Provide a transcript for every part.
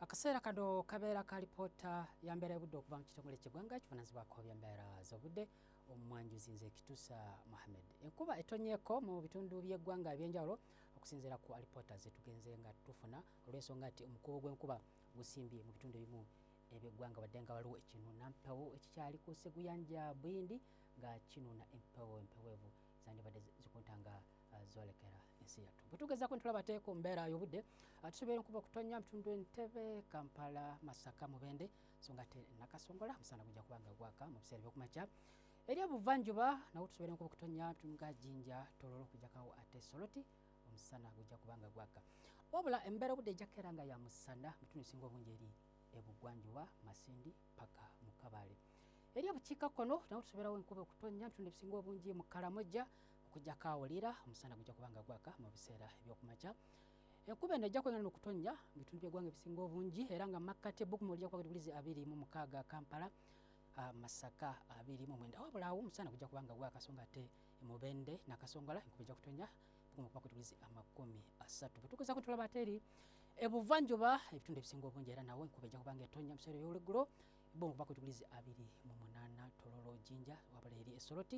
akaseera kano kabeera ka lipoota ya mbeera y'obudde okuva mu kitongole ky'eggwanga ekivunanyizibwako byembeera z'obudde omumwanjuzi nze kitusa muhammed enkuba etonyeeko mu bitundu by'eggwanga ebyenjawulo okusinziira ku alipoota zetugenze nga tufuna olw'ensonga nti omukubo gw'enkuba gusimbye mu bitundu ebimu ebyeggwanga wadde nga waliwo ekinuuna mpewo ekikyali ku seguyanja buyindi nga kinuuna empewo empeweevu zandibadde zikuntanga zolekera ensi yattu bwe tugezaako ntulaba te ku mbeera y'obudde ah, tusobola enkuba okutonya mutundu entebe kampala masaka mubende so nga te nakasongola musana gujja kuba nga gwaka mu biseera ebyokumakya eri obuvanjuba nawo tusobola enkuba okutonya mutundu nga jinja tololo okujjakawo ate soloti omusana gujja kuba nga gwaka wabula embeera obudde ejjakukeera nga ya musana mutundu esinga obungi eri ebugwanjuba masindi paka mukabale eri obukiika kkono nawo tusoborawo enkuba okutonya mutundu ebisinga obungi mu kalamojja okujjako awulira omusana gujja kuba nga gwaka mu biseera ebyokumakya enkuba eno ejja kwengana nokutonnya mu bitundu byegwanga ebisinga obungi era nga makkati ebbukumu lijja kuba gadibulizi abiri mu mukaaga kampala masaka abiri mu mwenda wabula awo omusana gujja kuba nga gwakasonga ate emubende nakasongola enkuba ejja kutonnya bbukumu kuba gadibulizi amakumi asatu bwetukuza kutulaba ate eri ebuvanjuba ebitundu ebisinga obungi era nawo enkuba ejja kuba nga etonnya mu biseera ebyolweggulo ebbukumu kuba gadibulizi abiri mu munaana tololo jinja wabula eri esoloti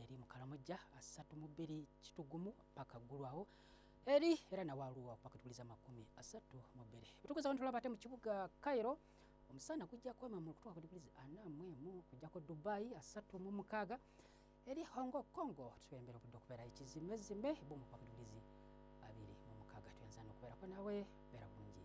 eri mukalamujja asatu mu bbiri kitugumu paka ggulwawo eri era nawalwo pakituliza makumi asatu mu bbiri bwetukuza abantu laba ate mu kibuga cairo omusana kujja kwema mu kutwaka digrizi ana mu emu kujjako dubai asatu mu mukaaga eri hongo congo tuembera obudde okubeera ekizimezime bumu kwaka digrizi abiri mu mukaaga tuyanza nokubeerako nawe beera bulungi